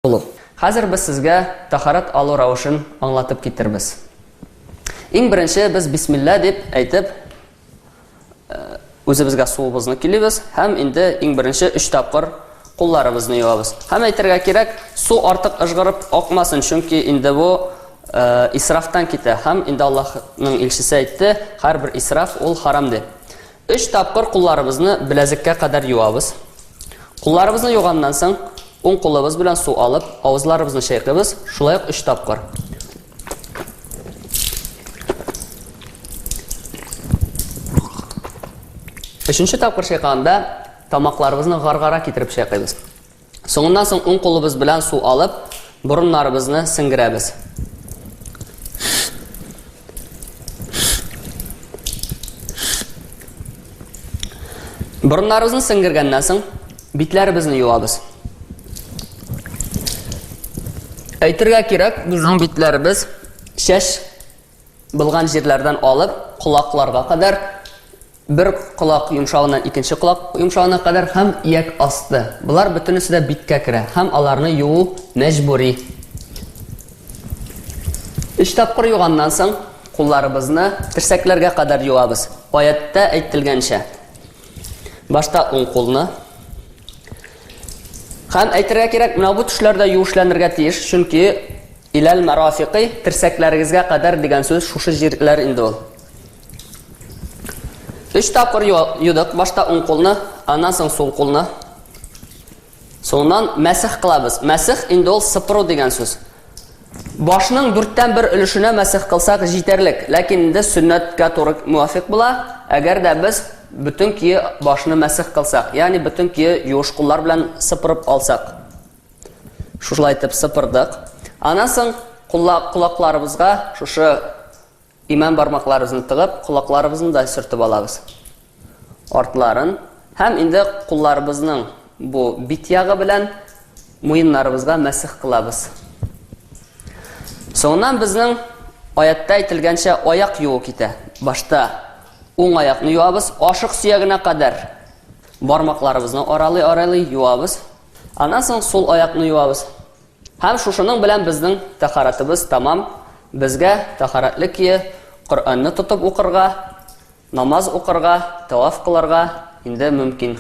Олуг. Хәзер без сезгә тахарат алу рәвешен аңлатып китербез. Иң беренче без бисмилла дип әйтеп үзебезгә суыбызны килибез һәм инде иң беренче өч тапкыр кулларыбызны юабыз. Һәм әйтергә кирәк, су артык ыжгырып акмасын, чөнки инде бу э, исрафтан китә. Һәм инде Аллаһның илчесе әйтте, һәрбер исраф ул харам дип. Өч тапкыр кулларыбызны беләзеккә кадәр юабыз. Кулларыбызны юганнан соң, уң кулыбыз белән су алып, авызларыбызны чайкыйбыз, шулай ук өч тапкыр. Өченче тапкыр чайкаганда тамакларыбызны гаргара китереп чайкыйбыз. Соңыннан соң уң кулыбыз белән су алып, борыннарыбызны сеңгерәбез. Борыннарыбызны сеңгергәннән соң битләребезне юабыз. Әйтергә кирәк, безнең битләребез шәш булган җирләрдән алып, колакларга кадәр Бер колак йомшагыннан икенче колак йомшагына кадәр һәм ияк асты. Болар бөтенесе дә биткә керә һәм аларны юу мәҗбүри. Өч тапкыр юганнан соң, кулларыбызны терсәкләргә кадәр юабыз. Аятьтә әйтелгәнчә, башта уң кулны һәм әйтергә кирәк, менә бу төшләрдә юешләнергә тиеш, чөнки иләл марафикый терсәкләрегезгә кадәр дигән сүз шушы җирләр инде ул. Өч тапкыр юдык. Башта уң кулны, аннан соң сул кулны. Соңнан мәсих кылабыз. Мәсих инде ул сыпыру дигән сүз. Башның дүрттән бер өлешенә мәсих кылсак җитәрлек, ләкин инде сөннәткә туры муафик була, әгәр дә без бөтен кие башны мәсих кылсак, ягъни бөтен кие юыш куллар белән сыпырып алсак. Шушылай итеп сыпырдык. Аннан соң кулакларыбызга шушы Имән бармакларыбызны тыгып, колакларыбызны да сөртеп алабыз. Артларын һәм инде кулларыбызның бу бит ягы белән муеннарыбызга мәсех кылабыз. Соңыннан безнең аятта әйтелгәнчә аяк юу китә. Башта уң аякны юабыз, ашык сөягенә кадәр бармакларыбызны аралый-аралый юабыз. Аннан соң сул аякны юабыз. Һәм шушының белән безнең тәһарәтебез тәмам, безгә тәһарәтлек кие, Коръәнне тотып укырга, намаз укырга, тәваф кылырга инде мөмкин.